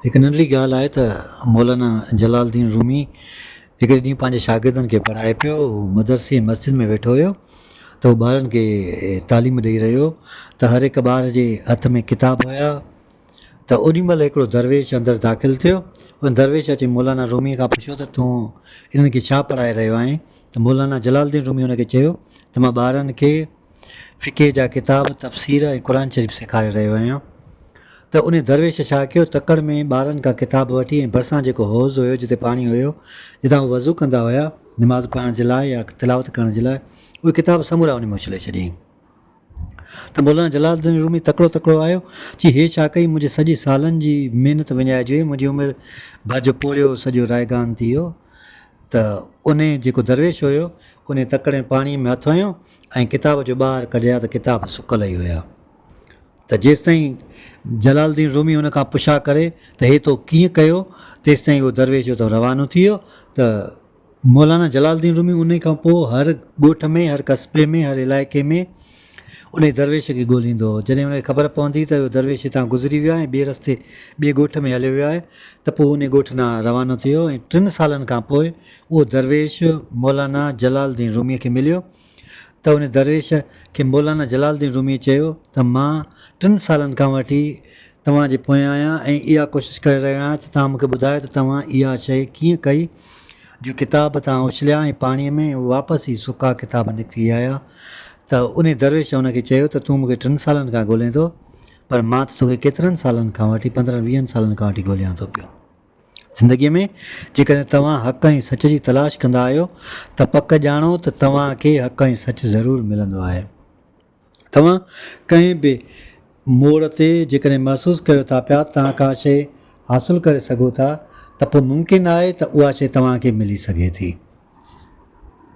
هڪ ننڍڙي ڳالهه آهي ته مولانا جلال الدين رومي هڪڙي ڏينهن پنهنجي شاگردن کي پڙهائي پيو. هو مدرسي ۽ مسجد ۾ ويٺو هيو ته هو ٻارن کي تعليم ڏئي رهيو ته هر هڪ ٻار جي هٿ ۾ ڪتاب هيا ته اوڏي مهل هڪڙو درويش اندر داخل ٿيو. ان درويش اچي مولانا رومي کان پڇيو ته تون انهن کي ڇا پڙهائي رهيو آهين؟ ته مولانا جلال الدين رومي ان کي چيو ته مان ٻارن کي فقه جا ڪتاب، تفسير ۽ قرآن شريف سيکاري رهيو هيان ته انهي درويش ڇا ڪيو تڪڙ ۾ ٻارن کان ڪتاب وٺي ۽ ڀرسان جيڪو حوض هيو جتي پاڻي هيو جتان هو وضو ڪندا هيا نماز پڙهڻ جي لاء يا تلاوت ڪرڻ جي لاء اهي ڪتاب سمورا انهي ۾ اڇلي ڇڏيائين ته مولانا جلال الدين رومي تڪڙو تڪڙو آيو چي هي ڇا ڪئي منهنجي سڄي سالن جي محنت وڃائجي وئي منهنجي عمر ڀر جو پورهيو سڄو رائگان ٿي ويو ته انهي جيڪو درويش هيو انهي تڪڙ ۾ پاڻي ۾ هٿ هنيو ۽ ڪتاب جو ٻاهر ڪڍيا ته ڪتاب سڪل ئي هيا ته جيستائين جلال الدين رومي ان کان پڇا ڪري ته هي تو ڪيئن ڪيو تيستائين اهو درويش اتان روانو ٿي ويو ته مولانا جلال الدين رومي انهي کان پوء هر ڳوٺ ۾ هر قصبي ۾ هر علائقي ۾ انهي درويش کي ڳوليندو هو جڏهن ان کي خبر پوندي ته اهو درويش هتان گذري ويو آهي ۽ ٻئي رستي ٻئي ڳوٺ ۾ هليو ويو آهي ته پوء انهي ڳوٺ ڏانهن روانو ٿي ويو ۽ ٽن سالن کان پوء اهو درويش مولانا جلال الدين روميء کي مليو ته ان درويش کي مولانا جلال الدين روميء چيو ته مان ٽن سالن کان وٺي توهان جي پويان آهيان ۽ اها ڪوشش ڪري رهيو آهيان ته توهان مون کي ٻڌايو ته توهان اها شيء ڪيئن ڪئي جو ڪتاب توهان اڇليا ۽ پاڻيء ۾ ۽ واپس هي سڪا ڪتاب نڪري آيا ته ان درويش ان کي چيو ته تون مون کي ٽن سالن کان ڳولين ٿو پر مان ته توکي ڪيترن سالن کان وٺي پندرهن ويهن سالن کان وٺي ڳوليان ٿو پيو. زندگيء ۾ جيڪڏهن توهان حق ۽ سچ جي تلاش ڪندا آهيو ته پڪ ڄاڻو ته توهان کي حق ۽ سچ ضرور ملندو آهي. توهان ڪنهن به موڙ تي جيڪڏهن محسوس ڪيو ٿا پيا ته توهان ڪا شيء حاصل ڪري سگهو ٿا ته پوء ممڪن آهي ته اها شيء توهان کي ملي سگهي ٿي.